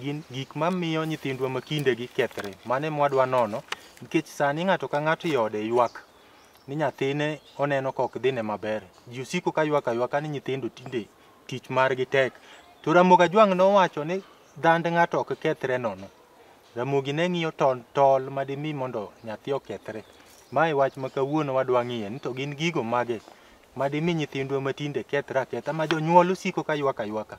gin gik mamiyo nyithindwa ma kindegi kethre. Mano ema wadwa nono nikech sani ng'ato ka ng'ato e ode ywak ni nyathine oneno ka ok dhine maber. Ji osiko ka ywak aywaka ni nyithindo tinde tich margi tek. To Ramogi Ajwang' nowacho ni dhand ng'ato ok kethre nono. Ramogi ne ng'iyo tol, tol ma dimi mondo nyathi okethre. Ma e wach ma kawuono wadwa ng'iye ni to gin gigo mage ma dimi nyithindwa ma tinde kethre aketha ma jonyuol osiko ka ywak aywaka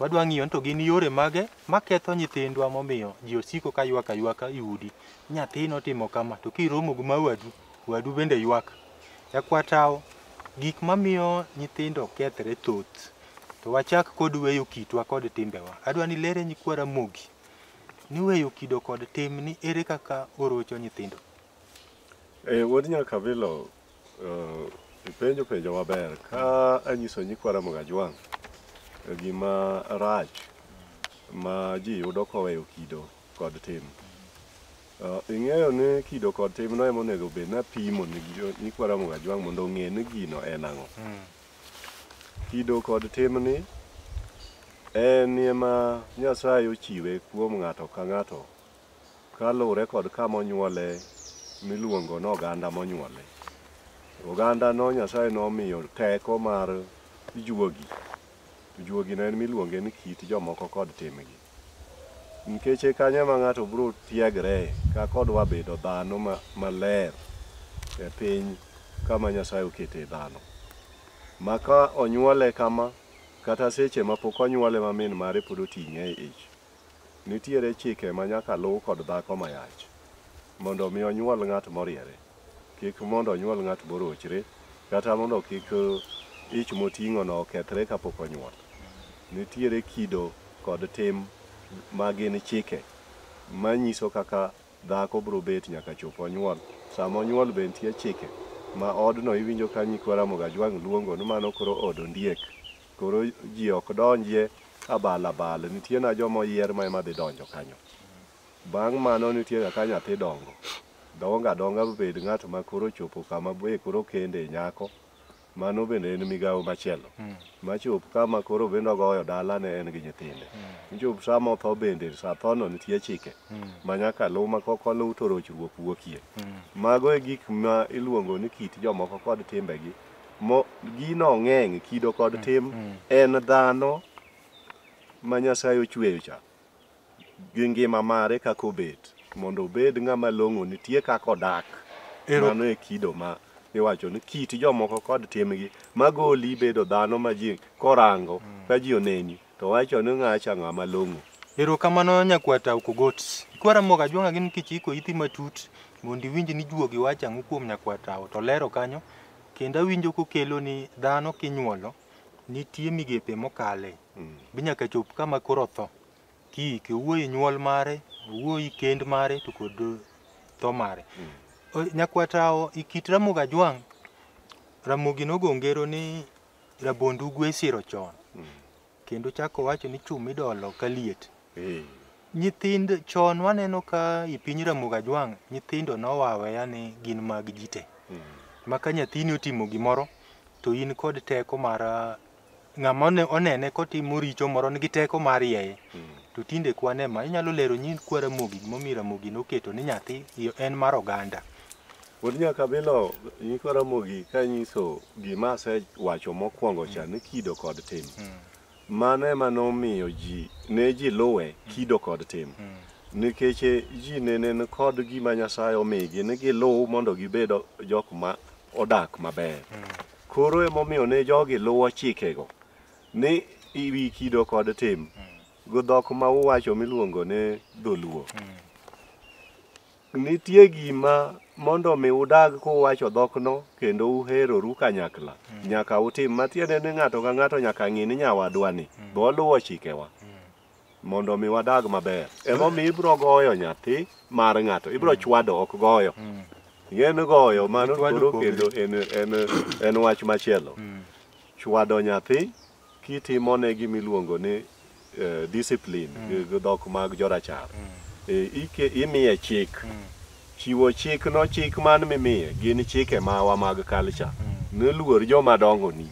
Wadwa ng'iyo ni to gin yore mage maketho nyithindwa momiyo ji osiko ka ywak aywaka i udi. Nyathi notimo kama to kiromo gi ma wadu, wadu bende ywak. Jakwatawo, gik mamiyo nyithindo kethre thoth. To wachak kod weyo kitwa kod timbewa. Adwa ni ilere nyikwa Ramogi ni weyo kido kod tim ni ere kaka orocho nyithindo. Eh, Wuod Nyakabilo, Uh, ipenjo penjo maber ka anyiso nyikwa Ramogi Ajwang' gima rach ma ji yudo koweyo kido kod tim. Uh, ing'eyo ni kido kod tim no emonego bed napimo ni jo- nyikwa Ramogi Ajwang' mondo ong'e ni gino en ang'o. Kido kod timni en ema Nyasaye ochiwe kuom ng'ato ka ng'ato Kaluwre kod kama onyuole miluongo ni oganda monyuole. Ogandano Nyasaye nomiyo teko mar juogi. To juogino en miluonge ni kit jomoko kod timgi. Nikech e kanyo ema ng'ato biro tiegre ka kodwa bedo dhano ma- maler e piny kama Nyasaye okete dhano. Ma ka onyuole kama, kata seche ma pok onyuole ma min mare pod oting'e e ich, Nitiere chike ma nyaka luw kod dhako mayach mondo mi onyuol ng'at moriere, kik mondo onyuol ng'at morochre, kata mondo kik ich moting'ono okethre kapok onyuol. Nitiere kido kod tim ma gin chike manyiso kaka dhako biro bet nyaka chop onyuol. Sama onyuol be nitie chike ma odno iwinjo ka nyikwa Ramogi Ajwang' luongo ni mano koro od ondiek. Koro ji ok donjie abal abal, nitie na joma oyier ma ema dhi donjo kanyo. Bang' mano nitie ga ka nyathi dongo, dongo adonga bed ng'at ma koro ochopo kama be koro okende nyako, mano bende en migawo machielo. Machop kama koro bende ogoyo dalane en gi nyithinde. Mchop sama otho bende, sa thono nitie chike ma nyaka luw ma kok oluw to rochruok wuokie. Mago e gik ma iluongo ni kit jomoko kod timbegi. Mo, gino ng'eng' kido kod tim en dhano ma Nyasaye ochweyo cha gi ngima mare kaka obet mondo obed ng'ama long'o nitie kaka odak Ero- mano e kido ma iwacho ni kit jomoko kod timgi magoli bedo dhano ma ji korango ka ji oneni To wacho ni ng'acha ng'a malong'o. Erokamano nyakwar Tau Kogot. Ikwa Ramogi Ajwang'a gin kichiko iti matut mondo iwinj ni juogi wacho ang'o kuom nyakwar Tau to olero kanyo kendo awinjo kokelo ni dhano kinyuolo nitie migepe mokale bi nyaka chop kama koro otho kiike owuoyo e nyuol mare, owuoyo e kend mare to kod eh, tho mare. Eh, Nyakwar Tau e kit Ramogi Ajwang', Ramogi nogo ngero ni rabond ugwe isiro chon kendo chako owacho ni chum idolo ka liet Eh, nyithindo chon waneno ka i piny ramoga jwang' nyithindo nowaweya ni gin mag ji te mm, ma ka nyathini otimo gimoro to in kod teko mar ah, ng'ama one- onene kotimo richo moro nigi teko mar yeye mm, to tinde kwane ma inyalo lero nyi kwa ramogi gimomiyo ramogi noketo ni nyathi iyo en mar oganda Wuod Nyakabilo nyikwa Ramogi ka nyiso gima asewacho mokwongo cha ni kido kod tim. Mano ema nomiyo ji ne ji luwe kido kod tim. Nikech eh, ji ne nen kod gima Nyasaye omigi ni giluw mondo gibed jok ma odak maber. Koro emomiyo ne jogi luwo chikego ni iwi kido kod tim. Go dhok ma uwacho miluongo ni dholuo. Nitie gima mondo mi udag kuwacho dhokno kendo uheroru kanyakla, nyaka utim matiende ni ng'ato ka ng'ato nyaka ng'i ni nyawadwani be oluwo chikewa mondo mi wadag maber. Emomiyo ibiro goyo nyathi mar ng'ato, ibiro chwado ok goyo. Ing'eyo ni goyo mano Chwado koro kongre. kendo en, en, en wach machielo. Chwado nyathi Kitimone gima iluongo ni eh, discipline gi gi dhok mag jorachar, eh, ike- imiye chik. Chiwo chik no chik man mimiye gin chike mawa mag culture. Niluor joma dongoni.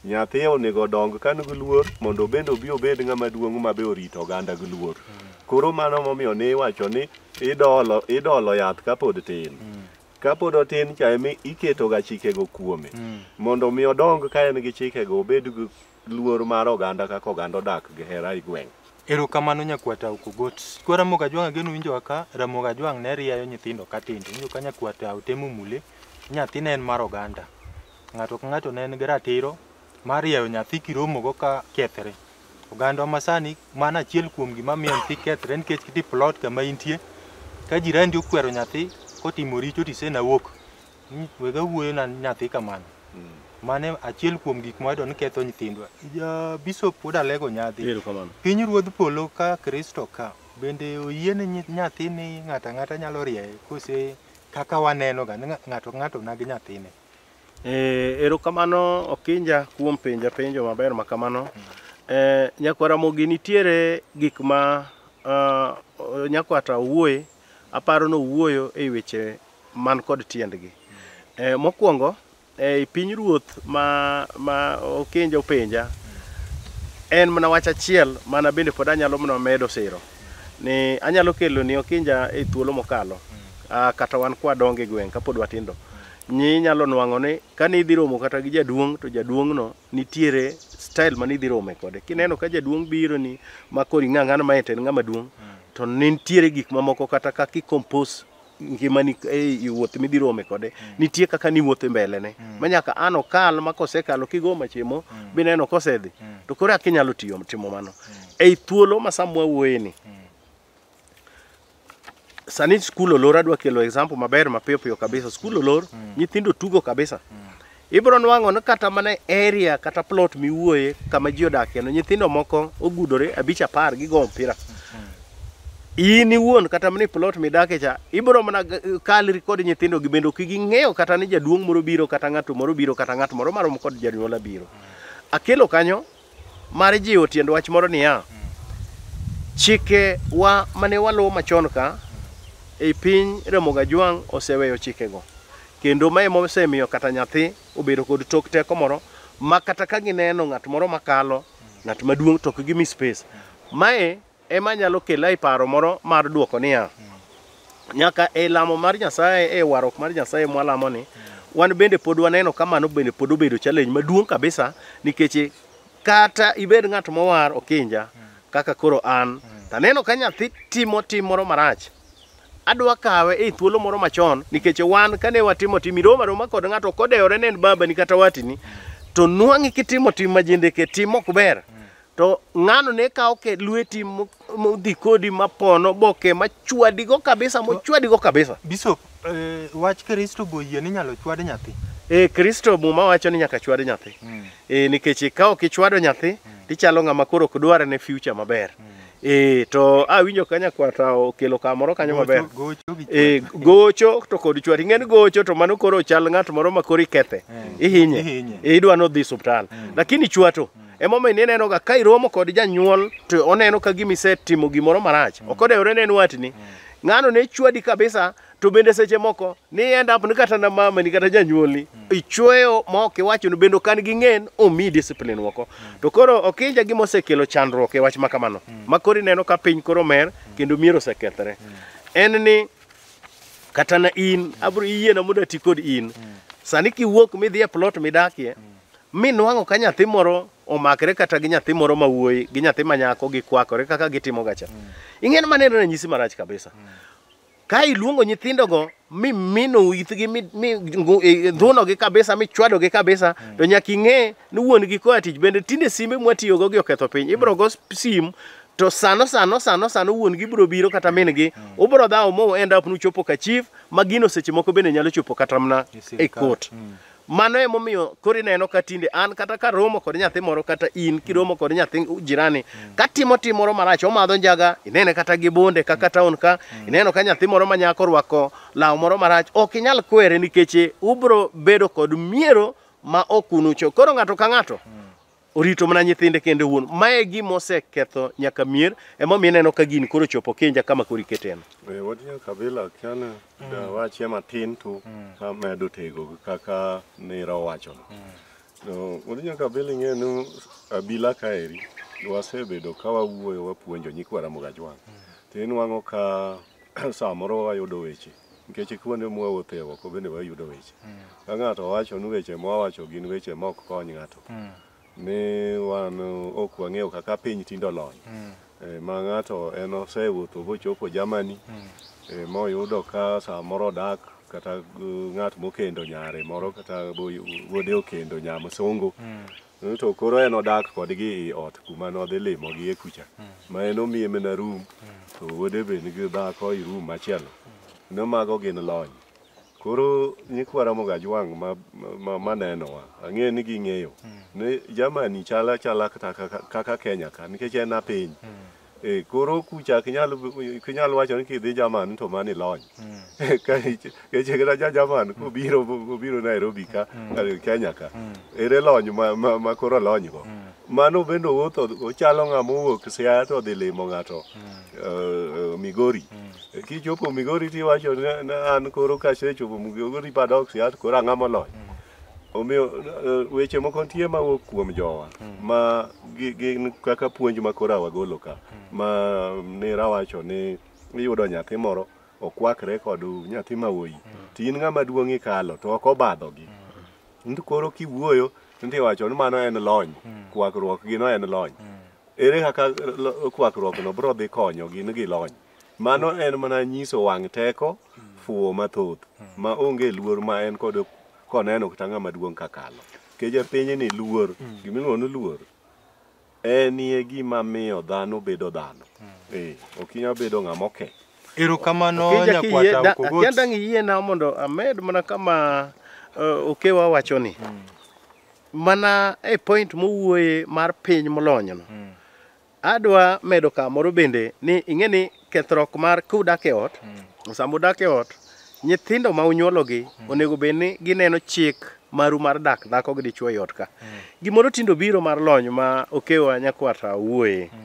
Nyathi onego dong ka nigi luor mondo obende obi obed ng'ama duong' ma be orito oganda gi luor. Koro mano momiyo ne iwacho ni idolo, idolo yath kapod tin. kapod otin cha emi iketoga chikego kuome mondo mi odong ka en gi chikego obed gi luor mar oganda kaka oganda odak gi hera e gweng' Erokamano nyakwata Okogot. Kwa Ramogi Ajwang' ageno winjo ka Ramogi Ajwang' ne rieyo nyithindo ka tindo. Winjo ka nyakwata otemo mule. Nyathi ne en mar oganda. Ng'ato ka ng'ato ne en gi ratiro mar rieyo nyathi kiromogo ka kethre. Ogandwa masani mano achiel kuom gima miyo nyathi kethre nikech kiti plot kama intie ka jirani okwero nyathi kotimo richo to isena wuok ni wega wuoyo na nyathi kamano mane achiel kuom gik mwayudo ni ketho nyithindwa ja bishop pod alego nyadhi Erokamano. piny ruodh polo ka kristo ka bende oyie ni nyi- nyathi ni ng'ato ang'ata nyalo rieye kose kaka waneno ga ni ng'a- ng'ato ka ng'ato nagi nyathine Eh, erokamano Okinja kuom penja penjo maber ma kamano. Eh, Nyakwa Ramogi nitiere gik ma ah, o- Nyakwa ta owuoye, aparo ni owuoyo e weche man kod tiendgi. Eh, Mokwongo, ei pinyruoth ma ma Okinja openja, en mana wach achiel mana bende pod anyalo mana medo siro ni anyalo kelo ni Okinja e thuolo mokalo ah, kata wan kwadongo e gweng' kapod watindo. Ni inyalo nwang'o ni kane idhi romo kata gi jaduong' to jaduong'no nitiere style mane idhi rome kode. Kineno ka jaduong' biro ni ma koro ing'a ng'ano ma en to en ng'ama duong' to nitiere gik mamoko kata kaka i compose ngimani e i wuoth midhi rome kode nitie kaka niwuotho e mbelene ma nyaka an okal ma kosekalo kigo machimo bineno kosedhi to koro eka inyalo tiyo timo mano. Ei thuolo ma sama wawuoyeni sani skul olor adwa kelo example maber mapiyo piyo kabisa skul olor mm. nyithindo tugo kabisa mm. ibro nwang'o ni kata mana area kata plot miwuoye kama ji odakie no nyithindo moko ogudore abich apar gigo mpira mm. in iwuon kata mana plot midakie cha ibro mana kalri kod nyithindo gi bende ok ging'eyo kata ni jaduong' moro biro kata ng'ato moro biro kata ng'at moro marom kod janyuola biro mm. akelo kanyo mar jiwo tiend wach moro niya, chikewa mane waluwo machon ka ei piny Ramogi Ajwang' oseweyo chikego. Kendo ma ema osemiyo kata nyathi obedo kod tok teko moro ma kata ka gineno ng'at moro makalo, ng'at maduong' to ok gimi space. Mae Ema nyalo kela e paro moro mar duoko niya, nyaka e lamo mar Nyasaye, e warruok mar Nyasaye mwalamo ni, wan bende pod waneno ka mano bende pod obedo challenge maduong' kabisa nikech kata ibed ng'at mowar okinja kaka koro an, taneno ka nyathi timo tim moro marach, adwa kawe e thuolo moro machon nikech wan kane watimo tim iroma aroma kod ng'ato kodewore ne en babani kata watini to nwang'i kitimo tim majendeke tim ok ber To ng'ano ne kawo ke lweti mo- modhi kodi mapono boke machwadigo kabisa mochwadigo kabisa. Bishop, eh, wach Kristo be oyie ni inyalo chwad nyathi. E Kristo muma wacho ni nyaka chwad nyathi. E, nikech ka ok ichwado nyathi tichalo ng'ama koro ok dwar ne future maber. E, to awinjo ka nyakwata okelo kamoro kanyo maber. Gocho- gocho gi E, chwad. gocho to kod chwad. Ing'eni gocho to mano koro chal ng'at moro ma koro ikethe. Ihinye. Ihinye. E, idwa nodhi suptal. Lakini chwato Emomiyo ne nenoga ka iromo kod janyuol to oneno ka gima isetimo gimoro marach. Ok odewore ne en watni. Ng'ano ne chwadi kabisa to bende seche moko ni end up ni kata na mama ni kata janyuolni ichweyo ma ok iwacho ni bende kan gi ng'en omi discipline moko. To koro okinja gima osekelo chandruok e wach ma kamano. Ma koro ineno ka piny koro mer kendo mier osekethre. En ni kata na in abro iyiena mondo ati kod in. Sani kiwuok midhi e plot midakie Mi nwang'o ka nyathi moro omakre kata gi nyathi moro ma wuoyi gi nyathi ma nyako gikwakore kaka gitimo gacha. Ing'en mane en ranyisi marach kabisa. Ka iluongo nyithindogo mi mino ithgi mi mi ngu- i- ndhunogi kabisa mi chwadogi kabisa to nyaka ing'e ni wuon-gi koa tich bende tinde simbe mwatiyogo gi oketho piny ibro go sp- sim to sano sano sano sano wuon-gi bro biro kata min-gi ubro dhawo mo end up nuchopo ka chief ma gino seche moko bende nyalo chopo kata mana E e sirkal. kot Mano emomiyo koro ineno ka tinde an kata ka romo kod nyathi moro kata in kiromo kod nyathi jirani ka timo tim moro marach omadho njaga inene kata gi bonde kaka taon ka ineno ka nyathi moro manyako orwako law moro marach ok inyal kwere nikech ubro bedo kod miero ma ok unucho koro ng'ato ka ng'ato orito mana nyithinde kende wuon mae gima oseketho nyaka mier emomiyo ineno ka gini koro chopo kenja kama koro iketeno Be watiyo kabila kiana da wachie matin tu ka medo tego kaka nira owachono no watiyo kabila ing'e ni abila kaeri wasebedo ka wawuoyo wapuonjo nyikwa Ramogi Ajwang' to inwang'o ka samoro wayudo weche nikech kuonde mwawuothe oko bende wayudo weche ka ng'ato wacho ni weche mwawacho gin weche ma ok kony ng'ato ni wan ok wang'eyo kaka piny tindo lony Eh, ma ng'ato en osewuotho bochopo Germany eh, moyudo ka samoro odak kata eh, ng'at mokendo nyare moro kata bo- wuode okendo nyamsungu Mm, to koro en odak kodgi i ot kuma nodhi limogie kucha mm. ma en omiye mana rum mm. to wuode be nigi dhako i rum machielo ne mago gin lony koro nyikwa ramoga jwang' manenowa ang'eyo ni ging'eyo ni jamani chala chala kata kaka kenya ka nikech en apiny Eh, koro kucha ok inyal ok inyal wacho ni kidhi German to mani lony. Ka ich- keche kata ja German kobiro obiro Nairobi ka eh, Kenya ka. Ere lony ma, ma, ma koro lony go. Mano bende owuotho ochalo ng'ama owuok Siaya to odhi limo ng'ato eh, eh, Migori. Kichopo Migori tiwacho ni ni an koro kasechopo Migori padok Siaya to koro ang'ama olony. Omiyo eh, weche moko nitie ma wuok kuom jowa ma gi- gin kaka puonj ma koro awagolo ka ma ni rawacho ni iyudo nyathi moro okwakre kod nyathi ma wuoyi to in ng'ama duong' ikalo to ok obadhogi to koro kiwuoyo nti wacho ni mano en lony kwakruok gino en lony ere kaka lo- kwakruokno biro dhi konyo gin gi lony Mano en mana nyiso wang' teko, fuwo mathoth, ma onge luor ma en kod koneno kata ng'ama duong' kakalo. Nikech e pinyni luor, gimiluongo ni luor, enie gima miyo dhano bedo dhano. Eh, ok inyal bedo ng'ama oke. Erokamano Okija kiyie- nyakwata da- Okogoti. Akianda ang' iyiena mondo amed mana kama eh, okewa wachoni. Mana e point mowuoye mar piny molonyno. Adwa medo kamoro bende ni ing'e ni kethruok mar kudak e ot, mm. sama udak e ot, nyithindo ma unyuologi mm. onego bed ni gineno chik maru mar dak dhako gi dichwo e ot ka. Mm. Gimoro tindo biro mar lony ma okewa nyakwata wuoye. Mm.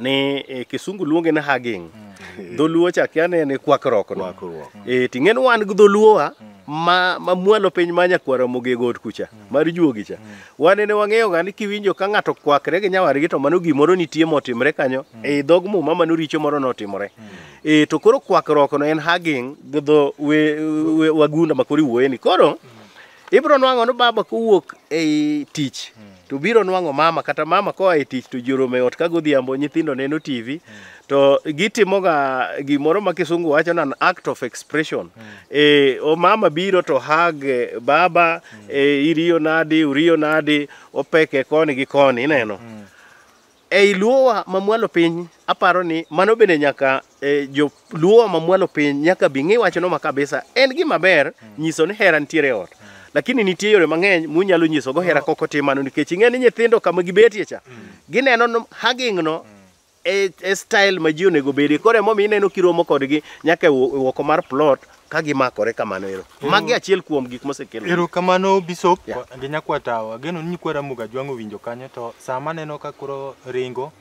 Ni e, kisungu luonge ni hugging. Mm. Dholuo chak yane ni kwakruok no. Kwakruok. E, ting'en wan gi dholuowa mm. ma, ma mwalo piny ma nyakwara mogego ot kucha. Mm. mar juogi cha wane ne wang'eyo ga ni kiwinjo ka ng'ato kwakre gi nyawadgi to mano gimoro nitie motimre kanyo e dhog muma mano richo moro notimore e to koro kwakruok no en hugging gi dho we- we- wagunda ma koro iwuoye ni koro ibiro nwang'o ni baba kowuok ei tich to biro nwang'o mama kata mama koa e tich to ji oromo e ot ka godhiambo nyithindo neno tv to gitimoga gimoro ma kisungu wacho nan act of expression mm. e, o mama biro to hag e, baba mm. e, iriyo nadi uriyo nadi opeke koni gi koni ineno mm. ei luowa mamwalo piny aparo ni mano bende nyaka e, jo luowa mamwalo piny nyaka bi ng'i wachno ma kabisa en gima ber mm. nyiso ni hera nitiere e ot mm. lakini nitie yore mang'eny munyalo nyisogo hera oh. kok otimano nikech ing'e ni nyithindo kama gibetie cha mm. gineno haging'no mm. e, e style ma ji onego bedi koro emomiyo ineno kiromo kodgi nyaka e woko e mar plot ka gimakore kamano ero magi achiel kuom gik mosekelo ero kamano bishop yeah. gi nyakwatawo ageno ni nyikwa ramoga ajwang' owinjo kanyo to sama aneno ka koro ringo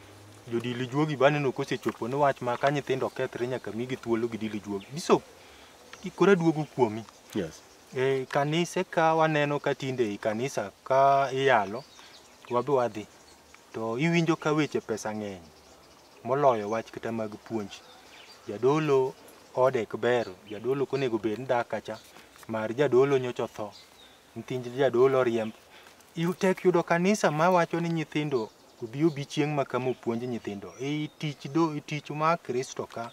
jodili juogi baneno kosechopo ni wach ma ka nyithindo okethre nyaka migi thuolo gi dili juogi bishop koro aduogo kuomi yes. e, kanise ka waneno ka tinde i kanisa ka iyalo wabe wadhi To iwinjo ka weche pesa ng'eny moloyo wach kata mag puonj. Jadolo ode ok ber, jadolo ok onego bed ni dak kacha, mar jadolo nyocha otho, nyithind jadolo oriemb. Yu- Tek yudo kanisa mawacho ni nyithindo obi obi chieng' ma kama opuonj nyithindo. E tich do e tich mar Kristo ka,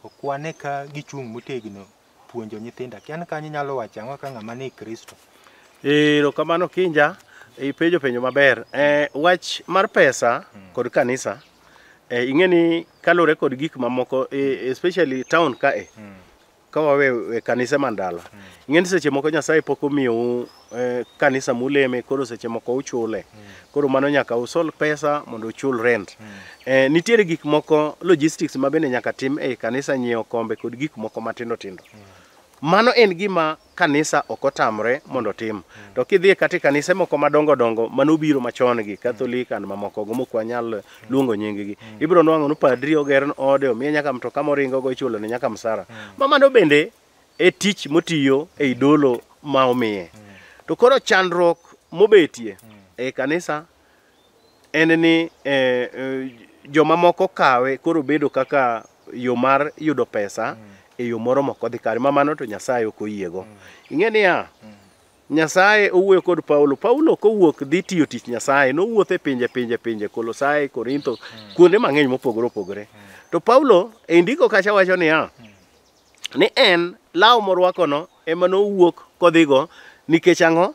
okwane ka gichung' motegno puonjo nyithindo akia ni kanyo inyalo wacho ang'o ka ng'ama ni kristo ero kamano kinja ipenjo penjo maber eh, wach mar pesa hmm. kod kanisa eh, ing'e ni kalure kod gik mamoko eh, especially town kae hmm. ka wawe kanise mandala hmm. ing'e ni seche moko nyasaye pok omiyou eh, kanisa muleme koro seche moko uchule koro mano nyaka usol pesa mondo uchul rent eh, nitiere gik moko logistics ma bende nyaka tim ei kanisa nyiewo kombe kod gik moko matindo tindo mano en gima kanisa ok otamre mondo otim to kidhie kata e kanise moko madongo dongo mano obiro machon gi katholik and mamoko go mok wanyal luongo nyinggi ibiro nwang'o ni padri oger ode omiye nyaka mtoka moringo go ichulo ne nyaka msara ma mano bende e tich motiyo e idolo ma omiye. To koro chandruok mobetie e kanisa en ni eh, eh, jomamoko kawe koro bedo kaka yo mar yudo pesa e yo moro mok odhi kare ma mano to Nyasaye ok oyiego. Ing'e niya, Nyasaye owuoyo kod Paulo. Paulo kowuok dhi tiyo tich Nyasaye, nowuotho e pinje pinje pinje, Kolosai, Korintho, kuonde mang'eny mopogore opogore. To Paulo e ndiko kacha wacho niya, ni en law morwakono ema nowuok kodhigo nikech ang'o?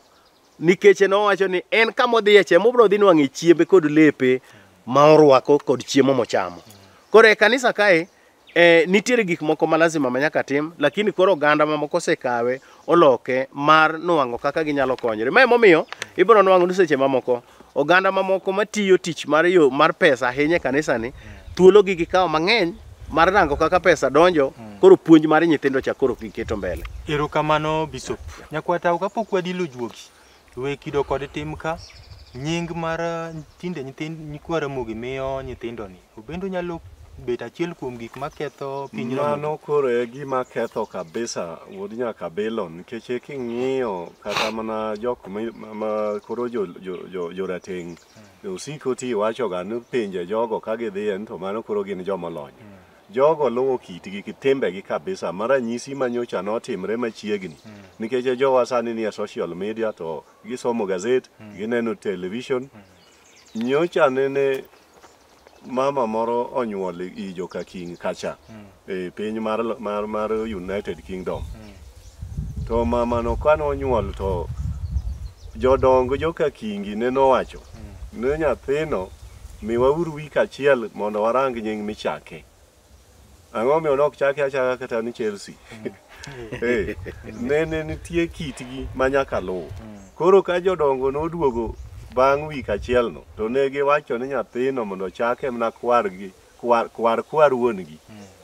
Nikech en owacho ni en kama odhiye cha mobro dhi nwang'e chiembe kod lepe ma orwako kod chiemo mochamo. Koro e kanisa kae eh, nitiere gik moko ma lazima ma nyaka tim lakini koro oganda mamoko osekawe oloke mar nwang'o kaka ginyalo konyore. Ma emomiyo ibiro nwang'o ni seche mamoko oganda mamoko matiyo tich mar yo mar pesa ahinya e kanisani thuologi gikawo mang'eny mar rango kaka pesa donjo koro puonj mar nyithindo cha koro giketo mbele. Erokamano Bishop. Nyakwata kapok wadilo juogi, We kido kod tim ka nying mar eh, tinde nyithind nyikwa Ramogi miyo nyithindoni. Obendo nyalo bet achiel kuom gik maketho piny Ramogi. Mano koro e gima ketho kabisa wuod Nyakabilo nikech e king'iyo kata mana jok mi- ma- ma koro jo- jo- jo- jorateng' osiko ti wachoga ni pinje jogo ka gidhiye ni to mano koro gin jomolony. Jogo luwo kitgi gi timbegi kabisa ma ranyisi ma nyocha notimre machiegni. Nikech e jowa sani nie social media to gisomo gazet, gineno television. Nyocha nene mama moro onyuol i Jokaking kacha e piny mar, mar, mar United Kingdom. To mamano kane onyuol to jodong joka Kingi ne nowacho ne nyathino miwauru wik achiel mondo warang nying michake. Ang'o omiyo ne ok chake achaka kata ni Chelsea? Eh, ne ne nitie kitgi ma nyaka luw. Koro ka jodongo noduogo bang' wik achielno to ne giwacho ni nyathino mondo ochake mana kwargi Kwar, kwar, kwar wuon-gi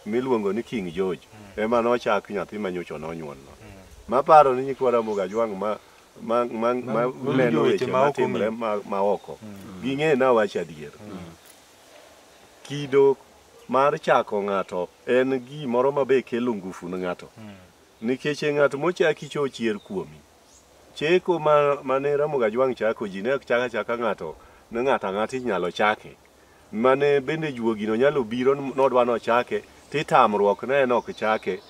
miluongo ni King George ema nochak nyathi ma nyocha nonyuolno. Maparo ni nyikwa Ramogi Ajwang' ma ma ma ma neno weche ma timre ma, ma oko. Ging'e na wach adier. Kido mar chako ng'ato en gimoro ma be kelo ngufu ne ng'ato. Nikech e ng'at mochaki cho chier kuomi. Cheko ma mane Ramogi Ajwang' chako ji ne ok chak achaka ng'ato ne ng'ato ang'ata inyalo chake. mane bende juogino nyalo obiro nodwa nochake titamruok ne en ok chake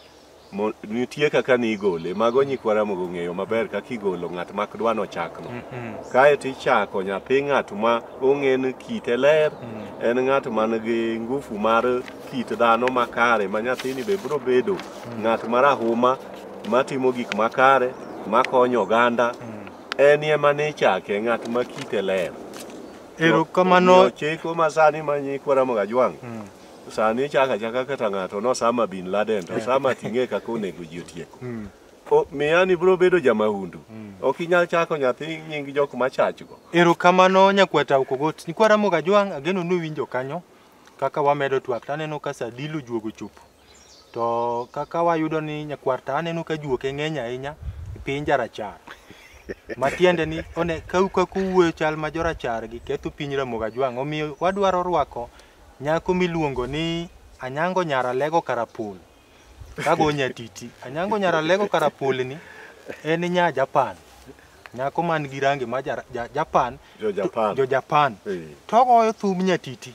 nitie kaka ni igole mago nyikwa ramogo ong'eyo maber kaka igolo ng'at mak dwa nochakno mm-hmm. kae to ichako nyathi ng'at ma ong'e ni kite ler mm. en ng'at man gi ngufu mar kit dhano makare ma nyathini be biro bedo mm. ng'at marahuma matimo gik makare makonyo oganda mm. en ema ni ichake ng'at ma kite ler Erokamano. Omiyo chik ma sani ma nyikwa Ramogi Ajwang' sani ichako achaka kata ng'ato nosama bin Laden to sama ting'e kaka onego ji otieko. O- Miya ni biro bedo jamahundu. Ok inyal chako nyathi nying jok machachgo. Erokamano nyakwata Okogot. Nyikwa Ramogi Ajwang' ageno ni uwinjo kanyo kaka wamedo twak taneno ka Sadilu juogo chopo. To kaka wayudo ni nyakwar ta aneno ka juoke ng'eny ahinya e piny jarachar. Matiende ni one ka ka kuwuoyo chal ma jorachar gi ketho piny Ramogi Ajwang'. Omiyo wadwaro rwako nyako miluongo ni Anyango Nyara Lego Karapul. Kago nyatiti. Anyango Nyara Lego Karapul ni en nya Japan. Nyako man gi rangi ma ja, ja, Japan. Jo Japan. Jo Japan. Eh. Togoyo thum nyatiti.